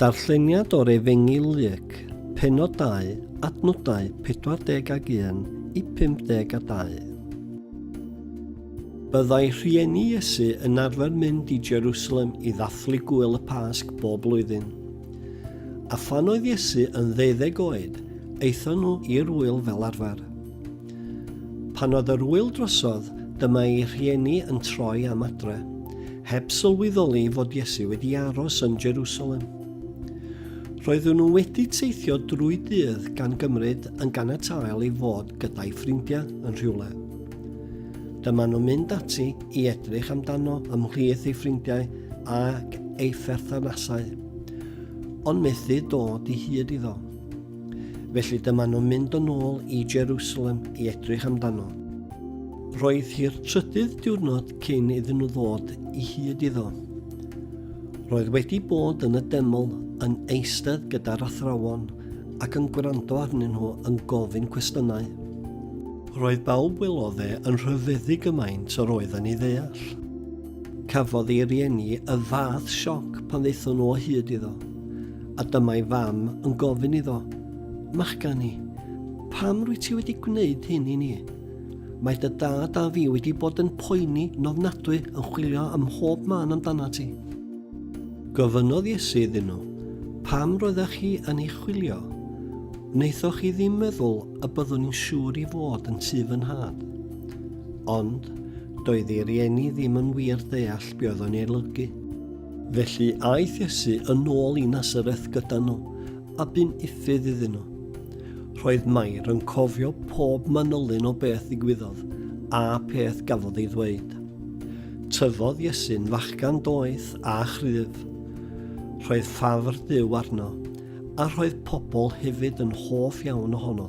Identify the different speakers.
Speaker 1: Darlleniad o'r Efengyl Luc, Pennod 2, adnodau 40 ag 1 i 52. Byddai rhieni Iesu yn arfer mynd i Jerusalem i ddathlu Gŵyl y Pasg bob blwyddyn. A phan oedd Iesu yn ddeuddeg oed, aethon nhw i'r ŵyl fel arfer. Pan oedd yr ŵyl drosodd, dyma ei rhieni yn troi am adre, heb sylweddoli fod Iesu wedi aros yn Jerusalem. Roeddwn nhw wedi teithio drwy dydd gan gymryd yn ganatael i fod gyda'i ffrindiau yn rhywle. Dyma nhw'n mynd ati i edrych amdano ymhlith ei ffrindiau ac ei pherthnasau, ond methu dod i hyd iddo. Felly dyma nhw'n mynd yn ôl i Jerusalem i edrych amdano. Roedd hi'r trydydd diwrnod cyn iddyn nhw ddod i hyd iddo. Roedd wedi bod yn y deml yn eistedd gyda'r athrawon ac yn gwrando arnyn nhw yn gofyn cwestiynau. Roedd bawb welodd e yn rhyfeddu gymaint yr oedd yn ei ddeall. Cafodd ei rieni y fath sioc pan ddaethon nhw o hyd iddo. A dyma'i fam yn gofyn iddo, Machgani, pam rwy ti wedi gwneud hyn i ni? Mae dy dad a fi wedi bod yn poeni nofnadwy yn chwilio ym mhob man amdana ti. Gofynodd Iesu iddyn nhw, Pam roeddech chi yn ei chwilio? Wnaethoch chi ddim meddwl y byddwn i'n siŵr i fod yn tu fy nhad. Ond, doedd ei rieni ddim yn wir ddeall be oedd o'n ei olygu. Felly aeth Iesu yn ôl i Nasareth gyda nhw, a bu'n uffydd iddyn nhw. Roedd Mair yn cofio pob manylyn o beth ddigwyddodd a peth gafodd ei ddweud. Tyfodd Iesu'n fachgan doeth a chryf. Roedd ffafr Duw arno, a roedd pobl hefyd yn hoff iawn ohono.